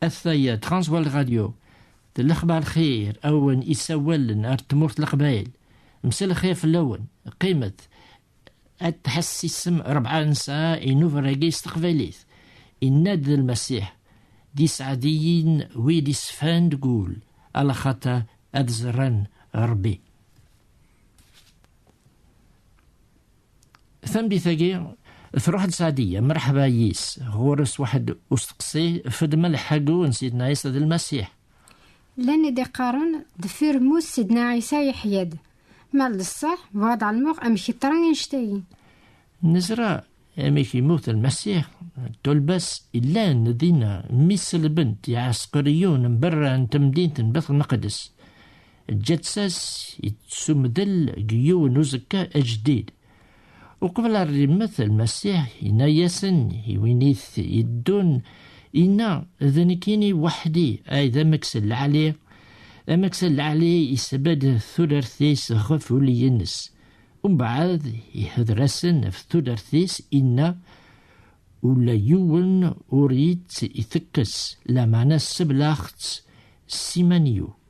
Ataya Transwal Radio d lexbar xir awen isawalen ar tmurt leqbayel msel xir fell-awen qqimet ad tḥessisem rebɛa nesɛa inubragi s teqbaylit inna-d d lmasiḥ d isɛadiyin wid isfan deg ul ala xata ad ẓran rebbi Tameddit-agi, tṛuḥ-d Sɛdiya, mreḥba yis, ɣur-s waḥed usteqsi, fedma lḥagu n Sidna Ɛisa d Lmasiḥ. Llan i d-iqqaren, deffir mmut Sidna Ɛisa yeḥya-d. Ma d ṣṣeḥ, bɣiɣ ad ɛelmeɣ amek i ṭran annect-agi. Nezra amek yemmut Lmasiḥ, ṭṭulba-s illan dinna mi selben-t iɛesqriyun n berra n temdint n Bit Lmeqdes. ǧǧa-tt-as yettsumdel deg yiwen uzekka ajdid. Uqbel ar rimmet lmasiḥ yenna-yasen i win i t-yeddun, yenna d nekkini weḥdi ay d ameks n lɛali, ameks n lɛali yesbedd tudert-is ɣef uli-ines. Umbeɛd ihder-asen ɣef tudert-is inna, ula yiwen ur itt-itekkes, lameɛna seblaɣ-tt s iman-iw.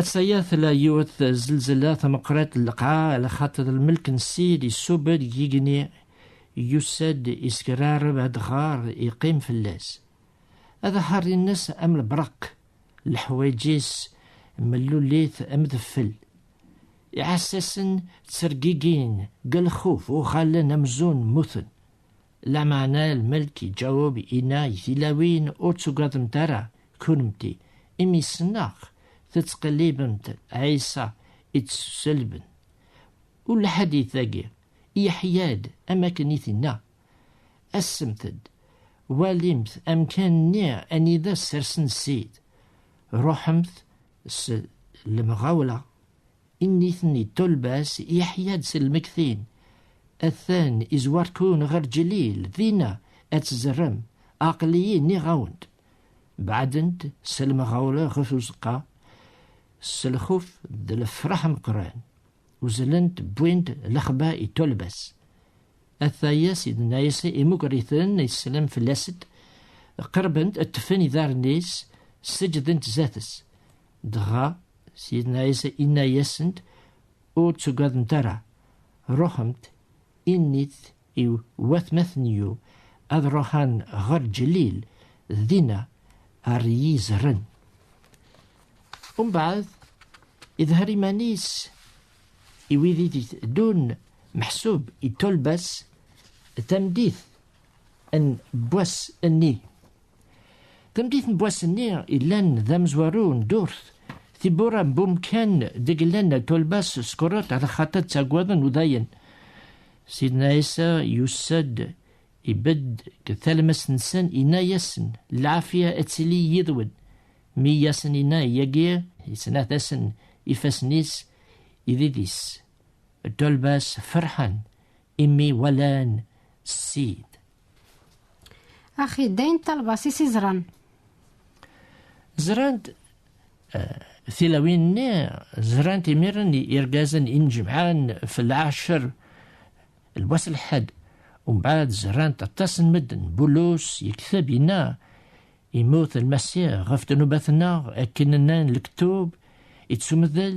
Ass-aya tella yiwet zelzela tameqrit n lqaɛ ala xaṭer lmelk n Ssid isubed deg yigenni yusa-d iskerrareb adɣar iqqim fell-as. Ad aḥerri-nnes am lbreq, leḥwayeǧ-is mellulit am deffel. Iɛessasen ttergigin, deg lxuf uɣalen amzun mmuten. Lameɛna lmelk iǧaweb inna i tilawin, ur tugademt ara kunemti, imi ssneɣ tettqellibemt Ɛisa i tt-selben. U lḥadit dagi, Yeḥya-d am akken i t-inna, Asemt-d, walimt amkan-nni anida ssersen Ssid, ruḥemt s lemɣawla Initen yeṭṭulba-s Yeḥya-d s lmektin, Atan izwar-ken ɣer Ǧlil, dinna ad tzerrem, aql-iyi nniɣ-awen-d. Beɛdent s lemɣawla ɣef uzeqqa, s lxuf d lefraḥ ameqqran, uzzlent wwint lexba i ṭṭulba-s. Ataya sidna-is imuger-iten islam fell-as-d, qerbent ṭṭfen idarren-is, seǧǧdent zdat-s. Dɣa, Sidna Ɛisa inna-yasent, ur ttugadent ara, ruḥemt, innit i watmaten-iw ad ruḥen ɣer Ǧlil, dinna ar iyi-zerren. Umbeɛd, idher iman-is i wid i d-iteddun meḥsub itolbas tameddit n wass-nni. Tamdit n wass-nni illan d amezwaru n ddurt, tibbura n wumkan deg llan tulbas skurut ala xaṭi ttaggaden udayen. Sidna Ɛisa yussa-d ibedd deg talmest-nsen inna-yasen lɛafiya ad tili yid-wen. Mi yasen inna yagi yettnat-asen ifassen-is idid-is. Tulbas ferḥen imi walan ssid. Axi dayen talbas i s-izran. Zran-d eh, tilawin-nni zran-d imiren irgazen injemɛen fell-ɛacr lwas lḥed umbaɛd zran-d aṭas n medden bulus yekteb inna imut lmasiɣ ɣef ddnubat-nneɣ akken nnan lektub ittumdel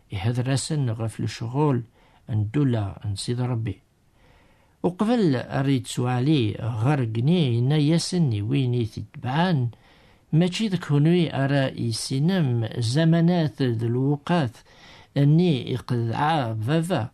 Ihedder-asen ɣef lecɣel n ddula n Sidi Rebbi. Uqbel ara yettwali ɣer gni yenna-yasen i win i t-itebɛen, mačči d kunwi ara yessinem zamanat d lewqat nni iqedɛa baba,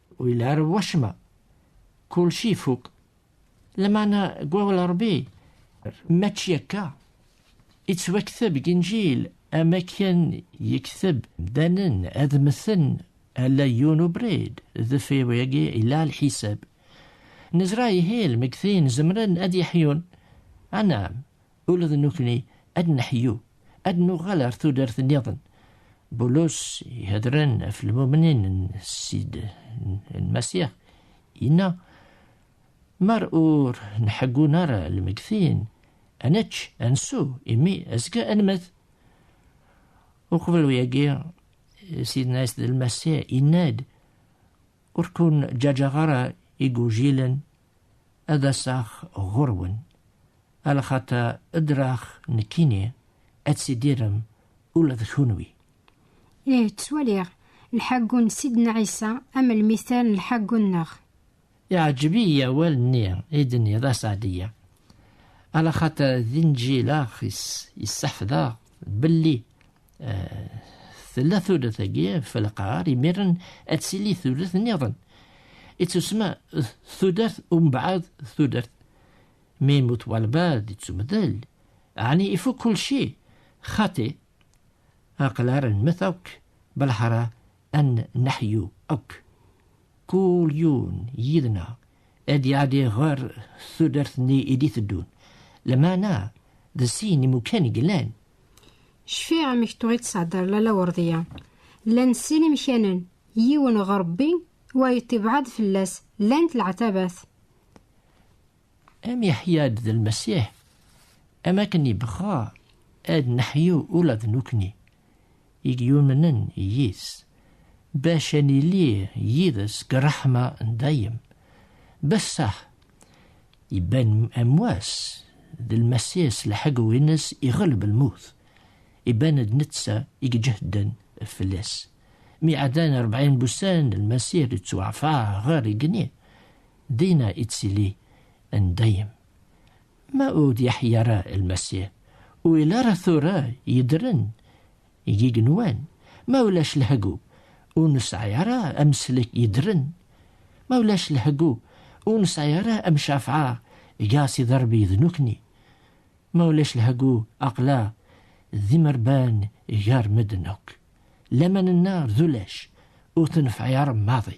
Ur yelha ara wacemma. Kulci ifuk. Lamana deg wawal n Ṛebbi mačči akka. Ittwakteb deg Inǧil am akken yekteb mdanen ad mmten ala yiwen ubrid deffir wayagi yella lḥisab. Nezra ihi lmegtin zemren ad yeḥyun. Anam, Ula d nukni ad neḥyu, ad nuɣal ar tudert nniḍen. Bulus ihedren af lmumnin n Sid n Masiḥ, inna, Mar ur nḥeggun ara lmegtin, ad nečč, ad nsu, imi azekka ad nmet. Uqbel uyagi, Sidna Sid n Masiḥ inna-d, Ur kun ǧaǧaɣ ara igujilen ad aseɣ ɣur-wen, alaxaṭer ddreɣ nekkini ad tidirem ula d kunwi. Ih, ttwaliɣ lḥagu n Sidna Ɛisa am lmithal n lḥagu-nneɣ. Iɛǧeb-iyi awal-nni i d-tenniḍ a Saɛdiya, alaxaṭer d inǧil-aɣ i s-yessḥefḍeɣ belli tella turet agi ɣef lqaɣar imiren ad tili turet niḍen ittusma tudert umbeɛd tudert mi yemmut walbad ittumdel ɛni ifuk kulci xati aqlar nmet akk belḥara An neḥyu akk, kul yiwen yid-neɣ ad iɛeddi ɣer tudert-nni i d-iteddun, lameɛna d sin imukan i yellan. Cfiɣ amek tuɣ i d-tesɛeddaḍ Lalla Werdiya. Llan sin imkanen, yiwen ɣer Rebbi, wayeḍ ibeɛɛed fell-as, llant leɛtabat. Am yeḥya-d d lmasiḥ, am akken ibɣa ad neḥyu ula d nukni, i yumnen yis, bac ad nili yid-s deg ṛṛeḥma n dayem. Bessaḥ, iban am wass, d lmasiḥ s lḥegwi-ines iɣelb lmut, iban d netta i iǧehden fell-as. Mi ɛeddan rebɛin n wussan, lmasiḥ d-ittwaɛfeɛ ɣer igenni, dina ittili n dayem. Ma ur d-yeḥyi ara lmasiḥ, ur yelli ara tura yedren deg igenwan, ma ulac lehgub, ur nesɛi ara ameslek yedren, ma ulac lehgub, ur nesɛi ara amcafɛa gar Sidi Rebbi d nukni, ma ulac lehgub, aqla d imerban gar medden akk. Laman-nneɣ d ulac, ur tenfeɛ ara maḍi.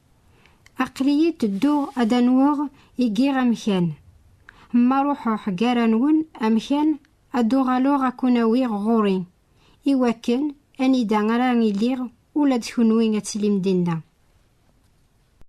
Aql-iyi tedduɣ ad anweɣ i giɣ amkan. Ma ruḥeɣ gar anwen amkan ad d-uɣaleɣ ad kun-awiɣ ɣur-i, i wakken anida ara iliɣ ula d kenwi ad tilim dinna.